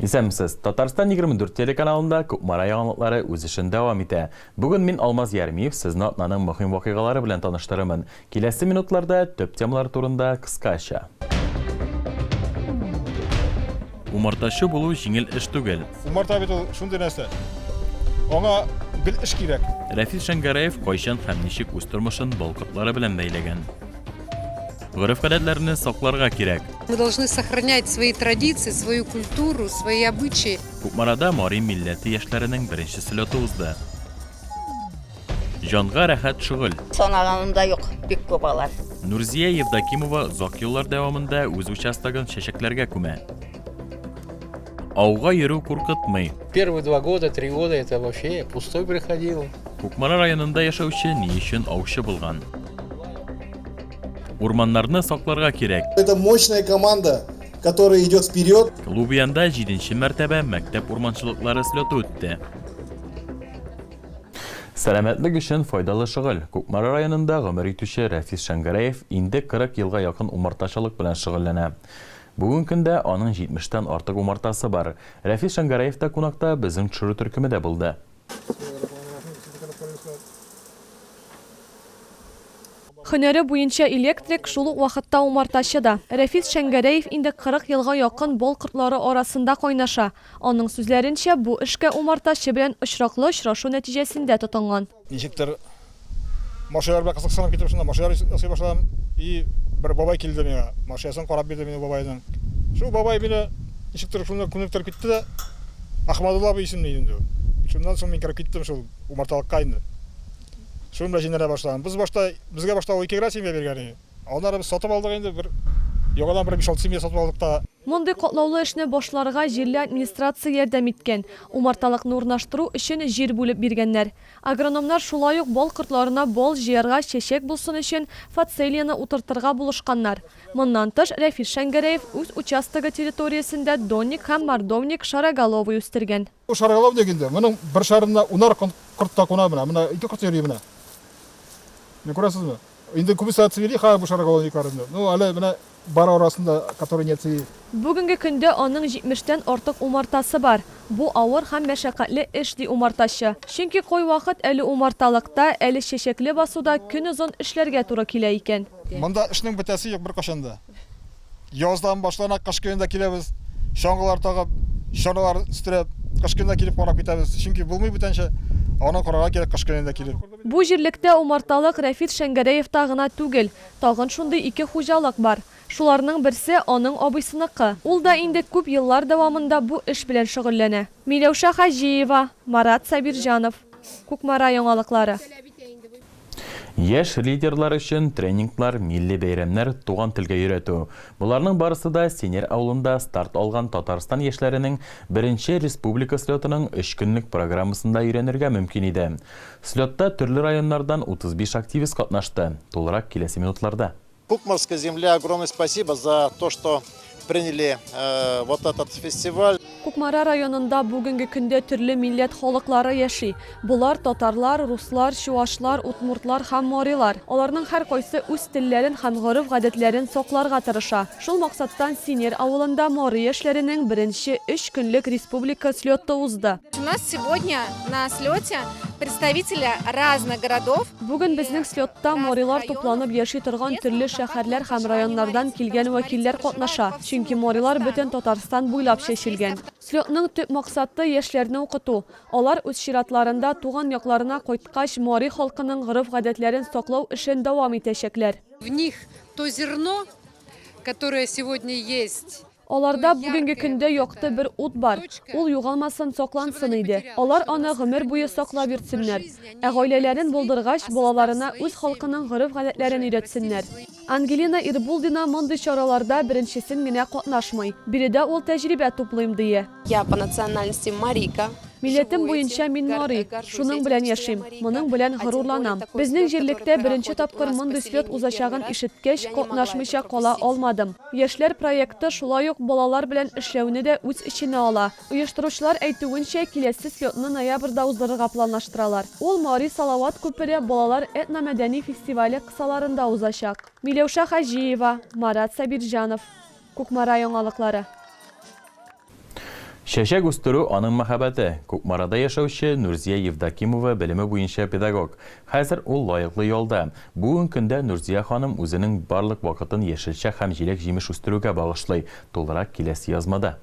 Исәнмесез! Татарстан 24 телеканалында Кукмара яңалыклары үз эшен дәвам итә. Бүген мин, Алмаз Ярмиев, сезне атнаның мөһим вакыйгалары белән таныштырырмын. Киләсе минутларда төп темалар турында кыскача. Умартачы булу җиңел эш түгел. Умарта бит ул шундый нәрсә. Аңа гел эш кирәк. Рәфис Шәңгәрәев кайчан һәм ничек үз тормышын балкытлары белән бәйләгән? Гореф-гадәтләрне сакларга кирәк. Мы должны сохранять свои традиции, свою культуру, свои обычаи. Кукмарада мари милләте яшьләренең беренче слеты узды. Җанга рәхәт шөгыль. Санаганымда юк, бик күп алар. Нурзия Евдокимова озак еллар дәвамында үз участогын чәчәкләргә күмә. Ауга йөрү куркытмый. Первые два года, три года это вообще пустой приходил. Кукмара районында яшәүче ни өчен аучы булган? Урманнарны сакларга кирәк. Это мощная команда, которая идет вперед. Лубянда җиденче мәртәбә мәктәп урманчылыклары слеты үтте. Сәламәтлек өчен файдалы шөгыль. Кукмара районында гомер итүче Рәфис Шәңгәрәев инде 40 елга якын умартачылык белән шөгыльләнә. Бүген көндә аның 70 тән артык умартасы бар. Рәфис Шәңгәрәев та кунакта, безнең төшерү төркеме дә булды. Һөнәре буенча электрик, шул ук вакытта умартачы да. Рәфис Шәңгәрәев инде 40 елга якын Бол кортлары арасында кайнаша. Аның сүзләренчә, бу эшкә умартачы белән очраклы очрашу нәтиҗәсендә тотынган. Ничектер, машиналарга кызыксынып китеп, шунда машиналар ясый башладым. И бер бабай килде миңа, машинасын карап бирде мине бабайның. Шул бабай мине ничектер шунда күнектер китте дә, Ахмадулла абый исемле иде инде ул. Шуннан соң мин кереп киттем шул умарталыкка инде. Шуны да җимерә башлаган. Без башта, безгә башта ул ике генә семья биргән иде. Аннары без сатып алдык инде, бер яңадан бер биш-алты семья сатып алдык та. Мондый катлаулы эшне башларга җирле администрация ярдәм иткән, умарталыкны урнаштыру өчен җир бүлеп биргәннәр. Агрономнар шулай ук бал кортларына бал җыярга, чәчәк булсын өчен фацелияне утыртырга булышканнар. Моннан тыш, Рәфис Шәңгәрәев үз участогы территориясендә донник һәм мордовник шароголовый үстергән. Бу шаргалау ник инде? Моның бер шарында унар корт та куна менә. Менә ике корт йөри менә. Менә күрәсезме? Инде күбесе отцвели хәзер бу шаргалониклар инде. Ну, әле менә бар арасында, которые не отцвели. Бүгенге көндә аның җитмештән артык умартасы бар. Бу авыр һәм мәшәкатьле эш, ди умартачы. Чөнки кайвакыт әле умарталыкта, әле чәчәкле басуда көнозын эшләргә туры килә икән. Монда эшнең бетәсе юк беркайчан да. Яздан башлана кыш көнендә киләбез. Чаңгылар тагып, чаналар үстереп, кыш көнендә килеп карап китәбез. Чөнки булмый бүтәнчә, аны карарга кирәк кыш көнендә килеп. Бу җирлектә умарталык Рәфит Шәңгәрәевта гына түгел, тагын шундый ике хуҗалык бар. Шуларның берсе, аның абыйсыныкы. Ул да инде күп еллар дәвамында бу эш белән шөгыльләнә. Миләүшә Хаҗиева, Марат Сабирҗанов, Кукмара яңалыклары. Яшь лидерлар өчен тренинглар, милли бәйрәмнәр, туган телгә өйрәтү, боларның барысы да Сенер авылында старт алган Татарстан яшьләренең беренче республика слетының өч көнлек программасында өйрәнергә мөмкин иде. Слетта төрле районнардан 35 активист катнашты, тулырак киләсе минутларда. Кукмарской земле огромное спасибо за то, что приняли э, вот этот фестиваль. Кукмара районында бүгенге көндә төрле милләт халыклары яши. Болар татарлар, руслар, чуашлар, утмуртлар һәм морилар. Аларның һәр кайсы үз телләрен һәм гореф-гадәтләрен сокларга тырыша. Шул максаттан Синер авылында моры яшьләренең беренче өч көнлек республика слеты узды. У нас сегодня На слете представители разных городов. Бүген безнең слетта морилар тупланып яши торган төрле шәһәрләр һәм районнардан килгән вәкилләр катнаша, чөнки морилар бөтен Татарстан буйлап чәчелгән. Слетның төп максаты, яшьләрне укыту. Алар үз чиратларында туган якларына кайткач, мари халкының гореф-гадәтләрен саклау эшен дәвам итәчәкләр. В них то зерно, которое сегодня есть. Аларда бүгенге көндә якты бер ут бар, ул югалмасын, саклансын иде. Алар аны гомер буе саклап йөртсеннәр. Ә гаиләләрен булдыргач, балаларына үз халкының гореф-гадәтләрен өйрәтсеннәр. Ангелина Ирбулдина мондый чараларда беренчесен генә катнашмый. Биредә ул тәҗрибә туплыйм, дие. Я по национальности марийка. Милләтем буенча мин марий. Шуның белән яшим. Моның белән горурланам. Безнең җирлектә беренче тапкыр мондый слет узачагын ишеткәч, катнашмыйча кала алмадым. Яшьләр проекты шулай ук балалар белән эшләүне дә үз эченә ала. Оештыручылар әйтүенчә, киләсе слетны ноябрьдә уздырырга планлаштыралар. Ул Мари Салават күпере балалар этномәдәни фестивале кысаларында узачак. Миләүшә Хаҗиева, Марат Сабирҗанов. Кукмара яңалыклары. Чәчәк үстерү, аның мәхәббәте. Кукмарада яшәүче Нурзия Евдокимова белеме буенча педагог. Хәзер ул лаеклы ялда. Бүген көндә Нурзия ханым үзенең барлык вакытын яшелчә һәм җиләк-җимеш үстерүгә багышлый, тулырак киләсе язмада.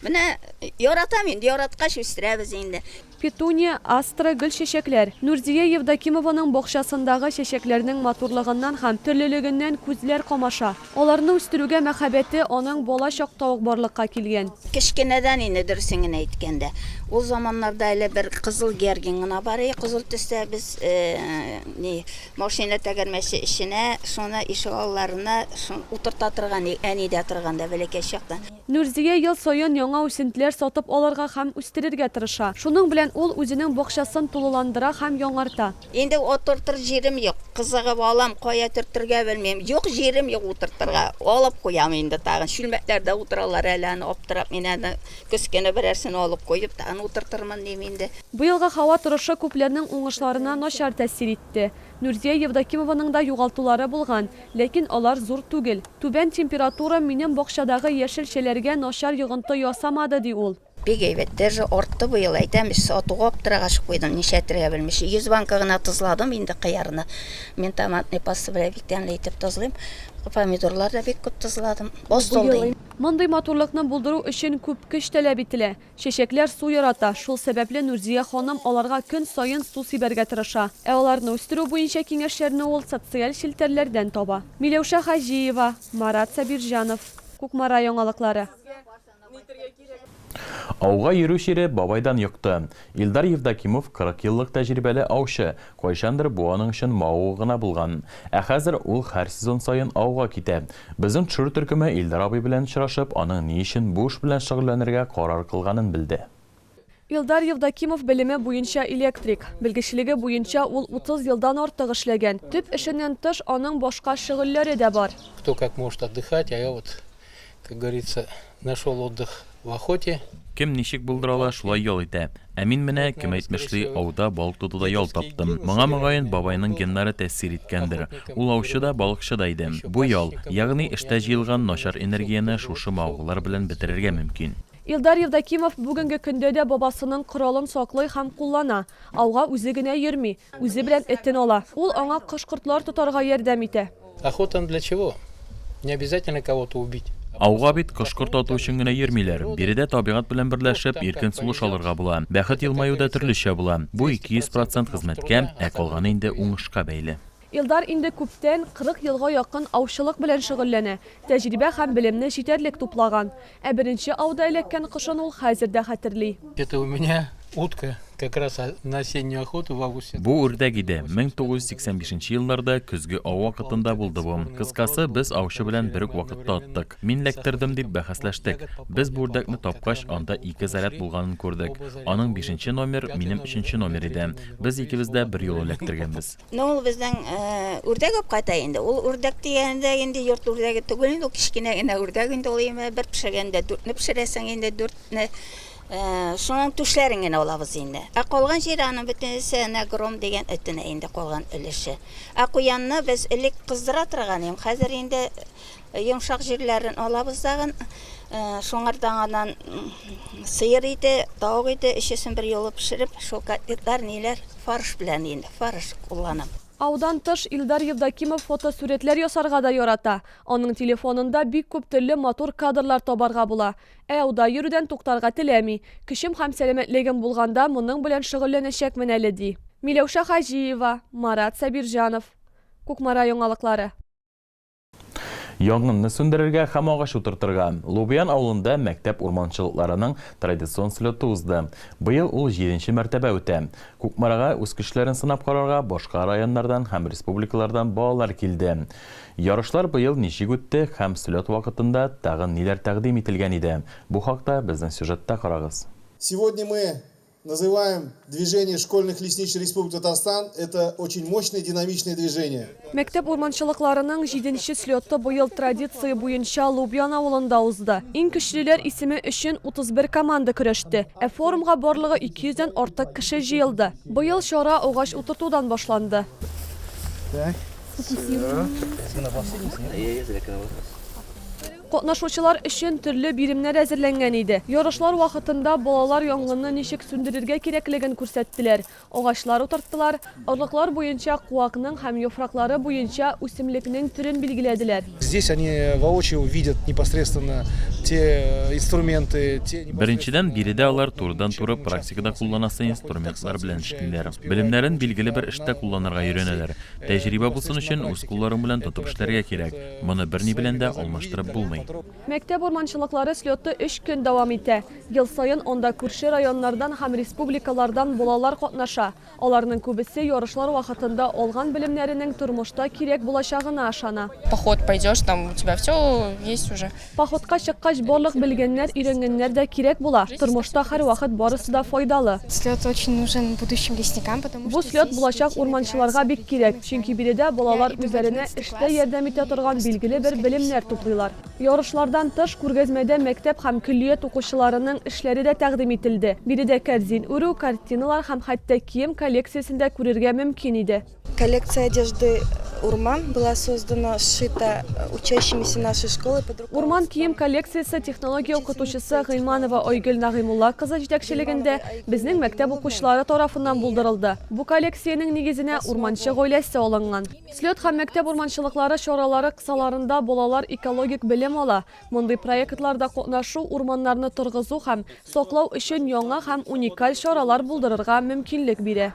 Менә яратам инде, яраткач үстерәбез инде. Петуния, астра, гөлчәчәкләр. Нурзия Евдокимованың бакчасындагы чәчәкләрнең матурлыгыннан һәм төрлелегеннән күзләр камаша. Аларны үстерүгә мәхәббәте аның бала чакта ук барлыкка килгән. Кечкенәдән инде, дөресен генә әйткәндә. Ул заманнарда әле бер кызыл георгин гына бар иде, кызыл төстә. Без ни, машина тәгәрмәче эченә, шуны ишегалларына утырта торган идек, әни дә торганда, бәләкәй чакта. Нурзия ел саен яңа үсентеләр сатып алырга һәм үстерергә тырыша. Шуның белән ул үзенең бакчасын тулыландыра һәм яңарта. Инде утыртыр җирем юк. Кызыгып алам, кая төртергә белмим. Юк, җирем юк утыртырга. Алып куям инде тагын. Чүлмәкләрдә утыралар әле аны аптырап. Мин аны көз көне берәрсен алып куеп, тагын утыртырмын дим инде. Быелгы һава торышы күпләрнең уңышларына начар тәэсир итте. Нурзия Евдокимованың да югалтулары булган, ләкин алар зур түгел. Түбән температура минем бакчадагы яшелчәләргә начар йогынты ясамады, ди ул. Бик әйбәт. Дәже артты быел, әйтәм, сатуга аптырагач куйдым, нишләтергә белмичә. Йөз банка гына тозладым инде кыярны. Мин томатный паста белән бик тәмле итеп тозлыйм. Помидорлар да бик күп тозладым. Боз тулды инде. Мондый матурлыкны булдыру өчен күп көч таләп ителә. Чәчәкләр су ярата, шул сәбәпле Нурзия ханым аларга көн саен су сибәргә тырыша. Ә аларны үстерү буенча киңәшләрне ул социаль челтәрләрдән таба. Миләүшә Хаҗиева, Марат Сабирҗанов. Кукмара яңалыклары. Ауга йөрү чире бабайдан йокты. Илдар Евдокимов, 40 еллык тәҗрибәле аучы, Кайчандыр бу аның өчен мавыгу гына булган. Ә хәзер ул һәр сезон саен ауга китә. Безнең төшерү төркеме Илдар абый белән очрашып, аның ни өчен бу эш белән шөгыльләнергә карар кылганын белде. Илдар Евдокимов белеме буенча электрик. Белгечлеге буенча ул 30 елдан артык эшләгән. Төп эшеннән тыш, аның башка шөгыльләре дә бар. Кто как может отдыхать, а я вот Как говорится, нашел отдых в охоте. Кем ничек булдыра ала, шулай ял итә. Ә мин менә, кем әйтмешли, ауда, балык тотуда ял таптым. Моңа, мөгаен, бабайның геннары тәэсир иткәндер. Ул аучы да, балыкчы да иде. Бу ял, ягъни эштә җыелган начар энергияне шушы мавыгулар белән бетерергә мөмкин. Илдар Евдокимов бүгенге көндә дә бабасының коралын саклый һәм куллана. Ауга үзе генә йөрми, үзе белән этен ала. Ул аңа кош-кортлар тотарга ярдәм итә. Ауга бит кош-корт ату өчен генә йөрмиләр. Биредә табигать белән берләшеп, иркен сулыш алырга була. Бәхет елмаю да төрлечә була. Бу 200 процент хезмәткә, ә калганы инде уңышка бәйле. Илдар инде күптән, 40 елга якын аучылык белән шөгыльләнә, тәҗрибә һәм белемне җитәрлек туплаган. Ә беренче ауда эләккән кошын ул хәзер дә хәтерли. Это у меня утка, как раз на осеннюю охоту в августе. Бу үрдәк иде, 1985 нче елларда көзге ау вакытында булды бу. Кыскасы, без аучы белән бер үк вакытта аттык. Мин эләктердем, дип бәхәсләштек. Без бу үрдәкне тапкач, анда ике заряд булганын күрдек. Аның бишенче номер, минем өченче номер иде. Без икебез дә берьюлы эләктергәнбез. Ну ул безнең үрдәк апкатай инде. Ул үрдәк дигәндә инде йорт үрдәге түгел инде, ул кечкенә генә үрдәк инде ул име. Бер пешергәндә дүртне пешерәсең инде, дүртне. Шуның түшләрен генә алабыз инде. Ә калган җире аның бөтенесе әнә гром дигән этенә инде калган өлеше. Ә куянны без элек кыздыра торган идем, хәзер инде Йомшак җирләрен алабыз дагын. Шуңардан анан сыер иде, тавык иде, өчесен бер юлы пешереп, шул котлетлар, ниләр, фарш белән инде, фарш кулланам. Аудан тыш, Илдар Евдокимов фотосурәтләр ясарга да ярата. Аның телефонында бик күп төрле матур кадрлар табарга була. Ә ауда йөрүдән туктарга теләми. Көчем һәм сәламәтлегем булганда моның белән шөгыльләнәчәкмен әле, ди. Миләүшә Хаҗиева, Марат Сабирҗанов. Кукмара яңалыклары. Янгынны сүндерергә һәм агач утыртырга Лубян авылында мәктәп урманчылыкларының традицион слеты узды. Быел ул җиденче мәртәбә үтә. Кукмарага үз көчләрен сынап карарга башка районнардан һәм республикалардан балалар килде. Ярышлар быел ничек үтте һәм слет вакытында тагын ниләр тәкъдим ителгән иде? Бу хакта безнең сюжетта карагыз. Сегодня мы Называем движение школьных лесничий Республики Татарстан, это очень мощное динамичное движение. Мәктәп урманчылыкларының җиденче слеты быел традиция буенча Лубян авылында узды. Иң көчлеләр исеме өчен 31 команда көрәште, ә форумга барлыгы 200 дән артык кеше җыелды. Быел чара агач утыртудан башланды. Катнашучылар өчен төрле биремнәр әзерләнгән иде. Ярышлар вакытында балалар янгынны ничек сүндерергә кирәклеген күрсәттеләр, агачлар утырттылар, орлыклар буенча куакның һәм яфраклары буенча үсемлекнең төрен билгеләделәр. Здесь они воочию увидят непосредственно те инструменты, те Беренчедән, биредә алар турыдан-туры практикада кулланасы инструментлар белән эшлиләр. Белемнәрен билгеле бер эштә кулланырга өйрәнәләр. Тәҗрибә булсын өчен үз кулларың белән тотып эшләргә кирәк. Моны берни белән дә алмаштырып булмый. Мәктәп урманчылыклары слеты өч көн дәвам итә. Ел саен анда күрше районнардан һәм республикалардан балалар катнаша. Аларның күбесе ярышлар вакытында алган белемнәренең тормышта кирәк булачагына ышана. Поход пойдешь, там у тебя всё есть уже. Походка чыккач барлык белгәннәр, өйрәнгәннәр дә кирәк була. Тормышта һәрвакыт барысы да файдалы. Слет очень нужен будущим лесникам, потому Бу что слет здесь булачак детям урманчыларга играется бик кирәк, определенный знание. чөнки биредә балалар Я иду в үзләренә одиннадцатый эштә класс, ярдәм и итә торган поступлю, билгеле бер скорее белемнәр всего. туплыйлар. Ярышлардан тыш, күргәзмәдә мәктәп һәм көллият укучыларының эшләре дә тәкъдим ителде. Биредә кәрзин үрү, картиналар һәм хәтта кием коллекциясен дә күрергә мөмкин иде. Коллекция одежды Урман была создана, сшита учащимися нашей школы. Урман кием коллекциясе технология укытучысы Гыйманова Айгөл Нагыймулла кызы җитәкчелегендә безнең мәктәп укучылары тарафыннан булдырылды. Бу коллекциянең нигезенә урманчы гаиләсе алынган. Слет һәм мәктәп урманчылыклары чаралары кысаларында балалар экологик белем ала. Мондый проектларда катнашу урманнарны торгызу һәм саклау өчен яңа һәм уникаль чаралар булдырырга мөмкинлек бирә.